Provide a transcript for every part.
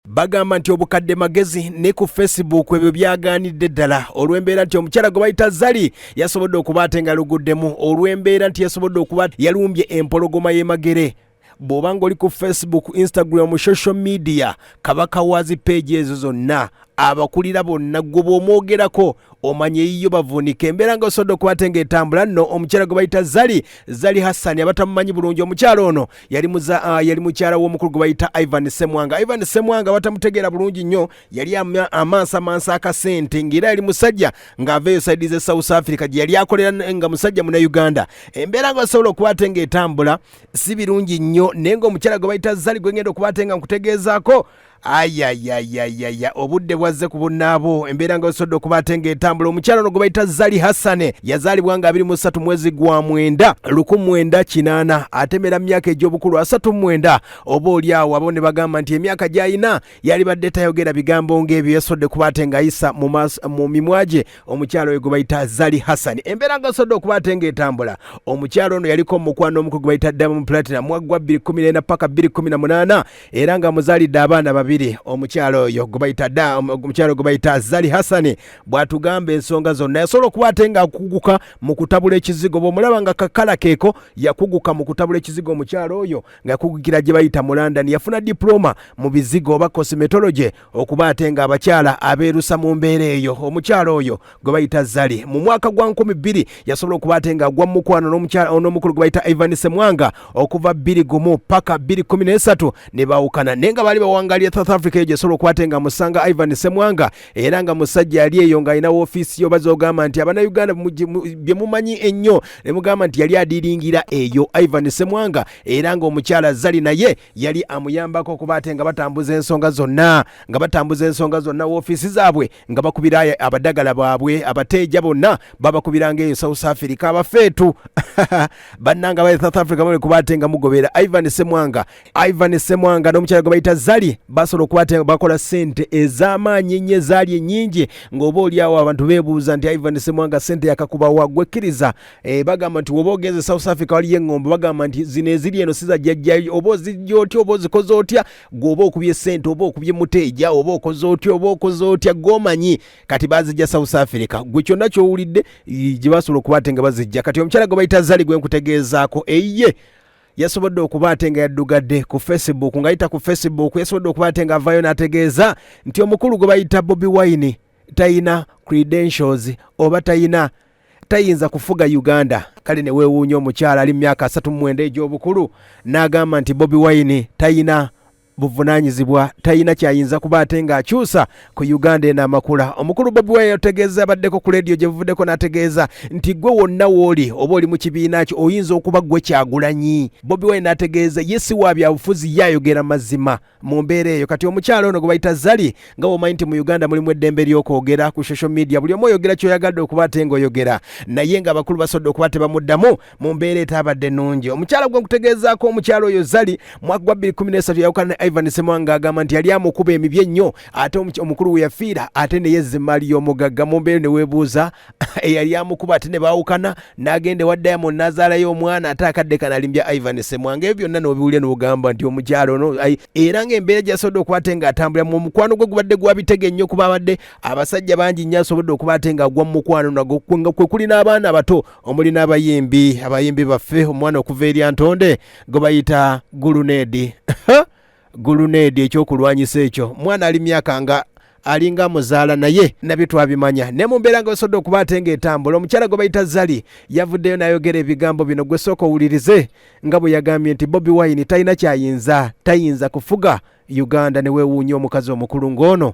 bagamba nti obukadde magezi ne ku facebook ebyo byagaanidde ddala olw'embeera nti omukyala gwe bayita zali yasobodde okuba ate nga luguddemu olw'embeera nti yasobodde okuba yalumbye empologoma y'emagere bw'oba ng'oli ku facebook instagram social media kabaka waazi peegi ezo zonna abakulira bonna gwe bw'omwogerako omanya eyiyo bavunika embeera nga osobola okuba ate ng'etambula nno omukyala gwe bayita zali zali hassani abatamumanyi bulungi omukyala ono yali muza ah, yali mukyala w'omukulu gwe bayita ivan semwanga ivan semwanga batamutegeera bulungi nnyo yali amaaso amansa akasente ng'era yali musajja ng'aveeyo saidi ze south africa gye yali akolera nga musajja muna uganda embeera nga osobola okuba ate ng'etambula si birungi nnyo naye ng'omukyala gwe bayita zali gwe ngenda okuba ate nga nkutegeezaako ayayayayaya obudde bwazze ku bunnaabo embeera nga wesodde okuba ate ng'etambula omukyala ono gwe bayita zali hassane yazaalibwa nga 23 mwezi gwa mwenda luku mwenda kinaana atemera mu myaka egy'obukulu asatu mwenda oba oli awo abo ne bagamba nti emyaka gy'alina yalibadde tayogera bigambo ng'ebyo yasodde kuba ate ng'ayisa mu mimwa gye omukyala oyo gwe bayita zali hassane embeera nga wesodde okuba ate ng'etambula omukyala ono yaliko omukwano omuku gwe bayita diamond platinum mwaggwa 214 paka 218 era nga muzalidde abaana babiri omukyalo oyo gwebayita da omukyalo gwebayita zali hasani bwatugamba ensonga zonna yasobola okuba ate nga akuguka mu kutabula ekizigo bwomulaba nga kakala keeko yakuguka mu kutabula ekizigo omukyalo oyo nga yakugukira gye bayita mu london yafuna diploma mu bizigo oba cosmetology okuba ate nga abakyala abeerusa mu mbeera eyo omukyala oyo gwe bayita zali mu mwaka gwa 2 yasobola okuba ate nga agwa mukwano n'omukulu gwe bayita ivan semwanga okuva 2 gumu paka 213 ne baawukana naye nga baali bawangalira south africa eyo gyesobola okuba ate nga musanga ivan semwanga era nga musajja yali eyo ng'alina woofiisi yo baza ogamba nti abanauganda bye mumanyi ennyo ne mugamba nti yali adiringira eyo ivan semwanga era ng'omukyala zali naye yali amuyambako okuba ate nga batambuza ensonga zonna nga batambuza ensonga zonna woofiisi zaabwe nga bakubira abadagala baabwe abateeja bonna babakubiranga eyo south africa abafeetu bannanga ba south africa bamale kuba ate nga mugobera ivan semwanga ivan semwanga n'omukyala gwe bayita zali basobola okuba ate nga bakola sente ez'amaanyi ennyo ezaali ennyingi ng'oba olyawo abantu beebuuza nti ivan semwanga sente yakakubawa gwekkiriza Eh, bagamba nti woba ogenze south africa waliyo eŋŋombo bagamba nti zino eziri eno siza jjajjayo oba ozijja otya oba ozikoze otya gwe oba okubye sente oba okubye muteeja oba okoze otya oba okoze otya gomanyi kati bazijja south africa gwe kyonna kyowulidde gye basobola okuba ate nga bazijja kati omukyala gwe bayita zali gwe nkutegeezaako eye yasobodde okuba ate nga yaddugadde ku facebook nga yita ku facebook yasobodde okuba ate nga avayo n'ategeeza nti omukulu gwe bayita bobi wine tayina credentials oba tayina tayinza kufuga uganda kale newewuunya omukyala ali mumyaka asatu mumwenda egyobukulu n'agamba nti bobi wine tayina buvunanyizibwa tayina kyayinza kuba ate ng'akyusa ku uganda eno amakula omukulu bobi wine yategeeza abaddeko ku lediyo gye buvuddeko n'ategeeza nti gwe wonna wooli oba oli mu kibiina kyo oyinza okuba gwe kyagulanyi bobi wine n'ategeeza ye si wa byabufuzi ye ayogera mazima mu mbeera eyo kati omukyalo ono gwebayita zali nga womanyi nti mu uganda mulimu eddembe ly'okwogera ku social media buli omu oyogera kyoyagadde okuba ate nga oyogera naye nga abakulu basobodde okuba tebamuddamu mu mbeera etaabadde nungi omukyala gwe nkutegeezaako omukyalo oyo zali mwaka gwa 213 yawukana ne ivan semwanga agamba nti yali amukuba emibye ennyo ate omukulu we yafiira ate neyezza emmaali y'omugagga mu mbeera neweebuuza eyali amukuba ate ne baawukana n'agenda ewa diamond n'azaalayo omwana ate akadde kana alimbya ivan semwanga ebyo byonna n'obiwulya n'ogamba nti omukyalo ono era ng'embeera gyasobodde okuba ate ng'atambulira mu omukwano gwe gubadde gwabitega ennyo kuba abadde abasajja bangi nnyo asobodde okuba ate ng'agwa mu mukwano nago nga kwe kuli n'abaana abato omuli n'abayimbi abayimbi baffe omwana okuva erya ntonde gwe bayita guluneedi guluneedi ekyokulwanyisa ekyo mwana ali myaka nga alinga muzaala naye nabyo twabimanya ne mu mbeera nga wesobodde okuba ate nga etambula omukyala gwe bayita zali yavuddeyo n'ayogera ebigambo bino gwe sooka owulirize nga bwe yagambye nti bobi wine talina kyayinza tayinza kufuga uganda ne weewuunya omukazi omukulu ng'ono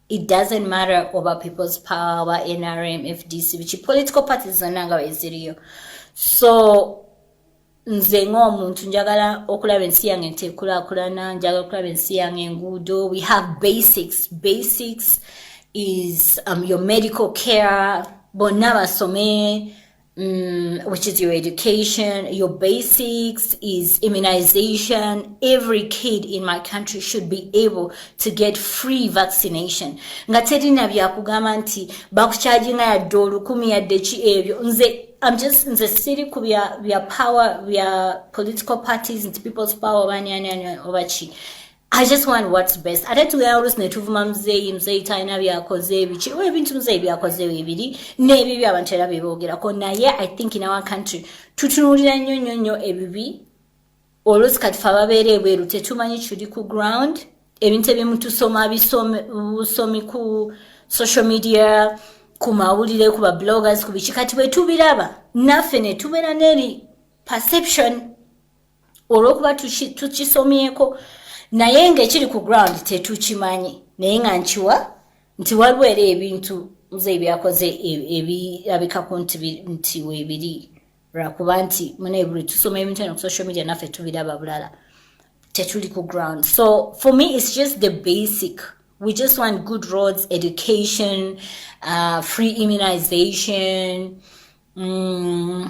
it doesn't matter oba people's power oba nrm fdc biki political parties zonna nga weziriyo so nze ng'omuntu njagala okulaba ensi yange nti ekulakulana njagala okulaba ensi yange enguudo we have basics basics is um, your medical care bonna basome Mm, which is your education, your basics, is immunization. Every kid in my country should be able to get free vaccination. Nga terina bya kugamba nti bakucharginga ya dolu kumi ya dechi ebyo. Nze I'm just nze siri ku bya bya power bya political parties and people's power bani ani ani obachi. I just want what's best. Ate tugera olusi ne tuvuma muzeeyi muzeeyi talina byakoze ebiki oba ebintu muzeeyi byakoze bibiri n'ebibi abantu era bye boogerako naye I think in our country tutunuulira nnyo nnyo nnyo ebibi olusi kati fe ababeera ebweru tetumanyi kiri ku ground ebintu ebimu tusoma busomi ku social media ku mawulire ku ba bloggers ku biki kati bwe tubiraba naffe ne tubeera n'eri perception olwokuba tukisomyeko naye ngaekiri ku ground tetukimanyi naye nga nkiwa nti waliwo era ebintu nze ebyakoze ebirabikako nti webiri lwakuba nti munebuli tusoma ebintu eno ku social media naffe tubiraba bulala tetuli ku ground so for me it's just the basic we just want good roads education uh, free immunization mm.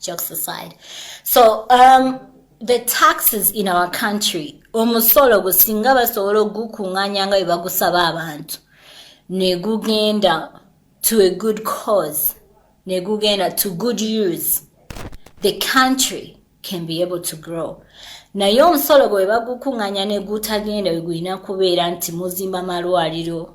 jokes aside so um, the taxes in our country omusolo gwe singa basobola ogukuŋŋanya nga bwe bagusaba abantu ne gugenda to a good cause ne gugenda to good use the country can be able to grow naye omusolo gwe bagukuŋŋanya ne gutagenda we gulina kubeera nti muzimba malwaliro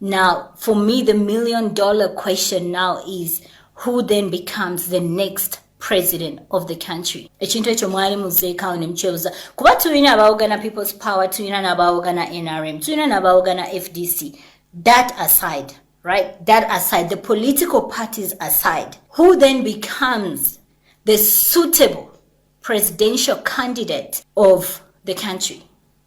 Now, for me, the million dollar question now is who then becomes the next president of the country ekintu ekyo mwali muzeekaawo ne mukyebuza kuba tulina abaawogana people's power tulina n'abaawogana nrm tulina n'abaawogana fdc that aside right that aside the political parties aside who then becomes the suitable presidential candidate of the country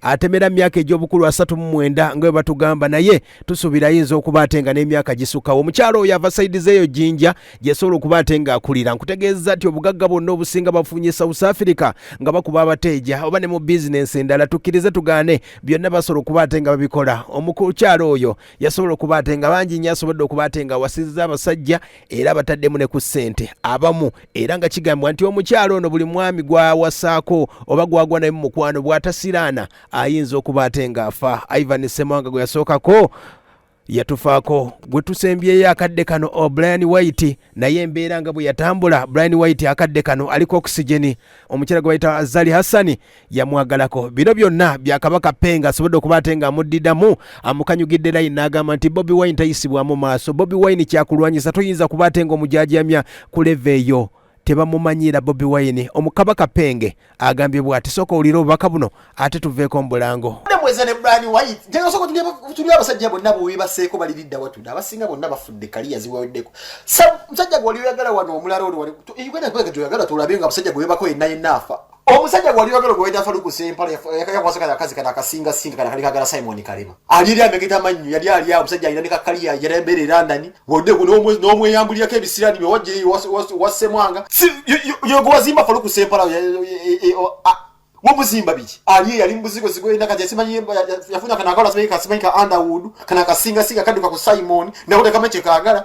atemera myaka egy'obukulu asatu mu mwenda nga bwe batugamba naye tusuubira ayinza okuba ate nga n'emyaka gisukkawo omukyalo oyo ava saidi zeeyo jjinja gyesobola okuba ate ng'akulira nkutegeeza nti obugagga bwonna obusinga bafunye south africa nga bakuba abateeja oba ne mu bizinensi endala tukkirize tugaane byonna basobola okuba ate nga babikola omukukyalo oyo yasobola okuba ate nga bangi nnyo asobodde okuba ate nga wasiza abasajja era bataddemu ne ku ssente abamu era nga kigambibwa nti omukyalo ono buli mwami gwawasaako oba gwagwa naye mu mukwano bw'atasiraana ayinza okuba ate ng'afa ivan semawanga gwe yasookako yatufaako gwe tusembyeyo akadde kano o oh, brian white naye embeera nga bwe yatambula brian white akadde kano aliko okisigeni omukyala gwe bayita zali hassani yamwagalako bino byonna byakabaka penga asobodde okuba ate nga amuddidamu amukanyugidde line n'agamba nti bobi wine tayisibwamu maaso bobi wine kyakulwanyisa toyinza kuba ate nga omujajamya ku leve eyo tebamumanyiira bobi wine omukabaka penge agambye bwati sooka owulire obubaka buno ate tuveeko mubulango tuli abasajja bonna bwebaseeko baliridda watude abasinga bonna bafudde kaliya ziweddeko musajja gwe wali oyagala wano omulala oli wali uganda gyoyagala tolabe nga abasajja gwe webako yenna yenna afa omusajja gwali yogero gwe wayita faluku sempala yakwasa kaya kazi kana kasinga singa kana kali kagala simon kalema ali yali amegeta manyu yali ali awo omusajja alina ne kakali ya yali embere london wode ku n'omwe n'omwe yambulira ke bisirani byo wajje wasemwanga yogo wazimba faluku sempala womuzimba biki ali yali mubuzigo zigo ina kati simanyi yafuna kana kala simanyi kasimanyi ka underwood kana kasinga singa kaduka ku simon na kota kama chekagala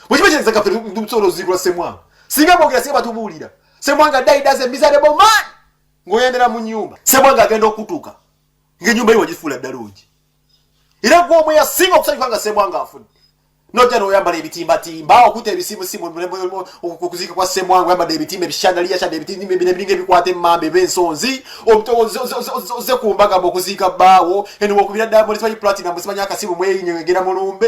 wekibakyereza kafe tusobola ozikula semwanga singa bogera singa batubuulira semwanga daidaze miserable man ngaoyendera mu nyumba semwanga agenda okutuuka ngaenyumba ye wagifuula ddala ogi era gwomu yasinga okusanyuka nga semwanga afudde nojja noyambala ebitimbatimba okuta ebisimusimu okuziika kwa semwanga oyambadde ebitimba ebishandaliyashadde ebitimba ebiringa ebikwata emmamba ebensonzi oze ku mbaga mu okuziika bbaawo eno wokubira ddala mulisimanyi platinum simanyi akasimu mweyinyo egera mulumbe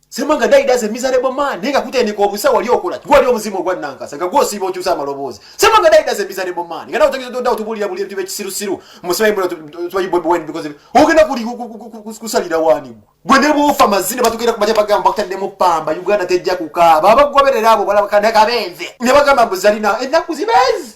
Semanga dai daze miserable man ninga kutendeka obusa wali okola gwali omuzimu ogwa nankasa nga gwosiba okyusa amaloboozi Semanga dai daze miserable man ngana otegeza doda otubulira buli ebintu bekisiru siru musayi mbona tubayi bobi wine because ogenda kuli kusalira wani gwe ne bufa mazine batukira kubaja bagamba bakutadde mu pamba Uganda tejja kukaaba abagoberera abo balaba kanaka benze ne bagamba buzalina ennaku zibezi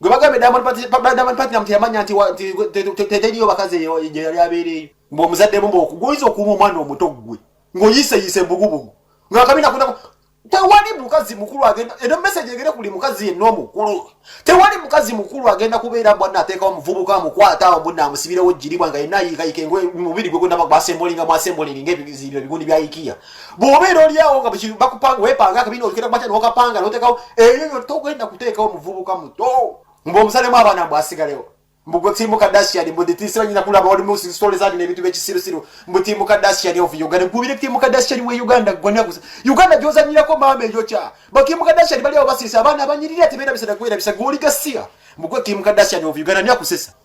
gwe bagambye Diamond Platnumz- Diamond Platnumz teyamanya nti wa- nti- te- te- te- teriyo bakazi eyo- gye yali abeereeyo mbu omuzadde mumba okuguyinza okuuma omwana omuto ggwe ng'oyiiseyiise embugubugu ng'akabina kunako tewali mukazi mukulu agenda eno meseji egere buli mukazi yenna omukulu tewali mukazi mukulu agenda kubeera mbwanna ateekawo omuvubuka amukwata awo mbunna amusibirewo jjiribwa nga yenna ayiikayika engoye mubiri gwe gwonna basembolinga mwasembolinga ebigundi bya ikiya bw'obeera olyawo nga bakupanga wepanga akabina olikera kumakya nokapanga notekawo ebyo byo togenda kuteekawo muvubuka muto mbu omusalemu abaana mbu asigalewo mbu gwe tiimu kadashian mbu nditiise banyina kulaba oli mu sitole zandi n'ebintu by'ekisirusiru mbu tiimu kadashian of uganda gubire tiimu kadashian we uganda gwonna gusa uganda gyozanyirako maama eyokya batiimu kadashian bali awo basiisa abaana abanyirira tebeera bisana kubeera bisa gwe oli gasiya mbu gwe tiimu kadashian of uganda ni akusesa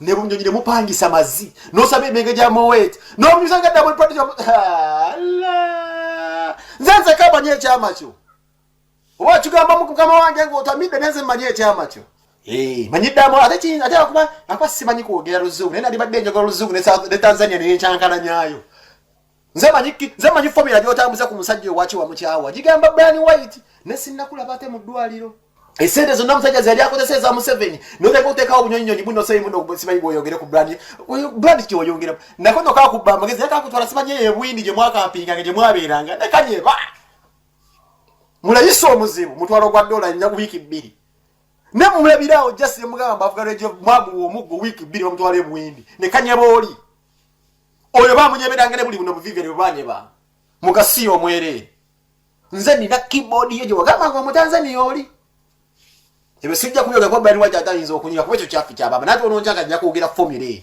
ne bunyonyi ne mupangisa mazzi nosaba emenge gya mowet nomunyuzanga dda buli pati nze nze kamanya ekyama kyo oba kigamba mukama wange ngaotamidde nenze mmanyi ekyama kyo eh, manyiddamu ate ate akuba akuba simanyi kwogera luzungu naye nalibadde enjogera oluzungu ne tanzania neyenkyankalanyayo nze manyi nze manyi fomula gyotambuza ku musajja owaki wamukyawa gigamba brian white ne sinnakulaba ate mu ddwaliro esente zonna musajja zeyali akozesa eza museveni noteka otekawo obunyonyinyonyi buno soyimunosimanyi bwoyogere ku brand brand kyoyongera nako nokakubba amagezi nakakutwala simanyi eyo ebwindi gye mwakampinganga gye mwabeeranga nekanyeba mulayisa omuzibu mutwala ogwa dola nyaku wiiki bbiri ne mumulabirawo just nemugamba avuga lwejo mwaguwa omuggo wiiki bbiri bamutwala ebwindi nekanyeba oli oyo bamunyeberanga ne buli buno buvive ne bwanyeba mugasiya omwereere nze nina keyboard ye gye wagamba nga omutanzania oli ebyo sijja kubyoga kuba brian white atayinza okunyira kuba ekyo kyafi kya baba nate ononjaga nja kwogera formula eyo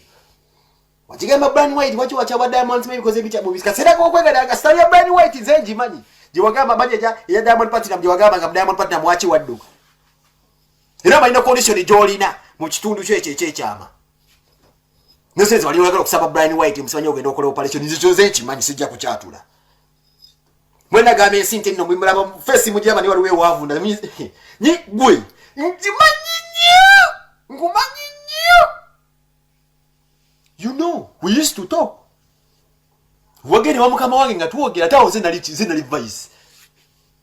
wakigamba brian white waki wakyaba diamonds maybe koze ebikya mu biseera kokwegera nga sitani ya brian white nze ngimanyi gye wagamba manyi eja eya diamond platinum gye wagamba nga diamond platinum waki wadduka era amalina condition gyolina mu kitundu kyo ekyo ekyekyama nosenze wali oyagala okusaba brian white musibanye ogenda okola operation nzizo nze nkimanyi sijja kukyatula mwena gamba ensi nti nno mumulaba fesi mujamani waliwo ewavunda nyi gwe nkimanyi nnyo nkumanyi nnyo you know we used to talk wagere wa mukama wange nga twogera tawo zenali zenali vice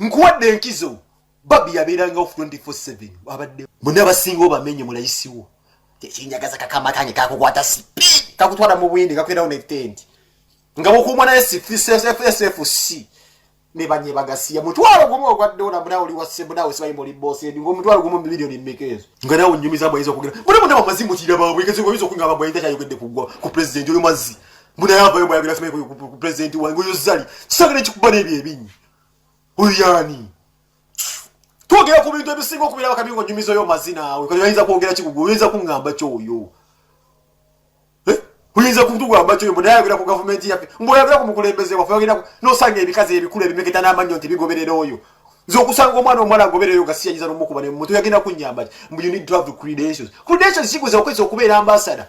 nkuwadde enkizo babi yabeerangawo 24/7 abadde muna basinga obamenye mulayisiwo kyekinyagaza kakama kange kakukwata sipi kakutwala mu bwindi kakwerawo netendi nga bukumwa naye sfsfsfc nebanye bagasiya mutwalo gumu ogwaddola muna oli wasemunawe sibayi muli bosi endi ngomutwalo gumu mumiliyoni mmeka ezo nga nawe onyumiza abayinza okugera muna muna bamazi mukira babwe kezi oyinza okuinga babayinza kyayogedde kugwa ku pulezidenti oyo mazi muna yavayo mwayogera simayi ku pulezidenti wange oyo zali kisanga nekikuba n'ebyo ebinyi oyo yaani twogera ku bintu ebisinga okubeera bakabi nga onyumiza oyo mazina awe kati oyinza kwogera kikugu oyinza kuŋŋamba kyoyo eh? oyinza kutugamba kyoyo mbu nayogera ku gavumenti yaffe mbuoyogera ku mukulembeze waffe ogenda nosanga ebikazi ebikulu ebimeketa n'amannyo nti bigoberera oyo nze okusanga omwana omuwala agoberera oyo gasiyanyiza nomukuba nemutu yagenda kunyamba ti mbu you need to have credentials credentials kikuza okwesa okubeera ambasada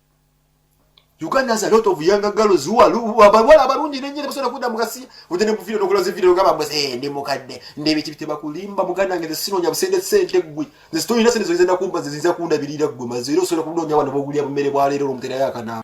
Uganda has a lot of younger girls who are abawala abalungi nenyini basobola kudda mu gasiya ojja ne muvidiyo nokola zividiyo ogamba mbu eh ndi mukadde ndebiki tebakulimba muganda nge zinoonya busente sente ggwe zitolina sente zoyinza nakumba ziyinza kundabirira ggwe maze era osobola kunoonya wano bogulya bumere bwaleero olwomuterayo akanaaba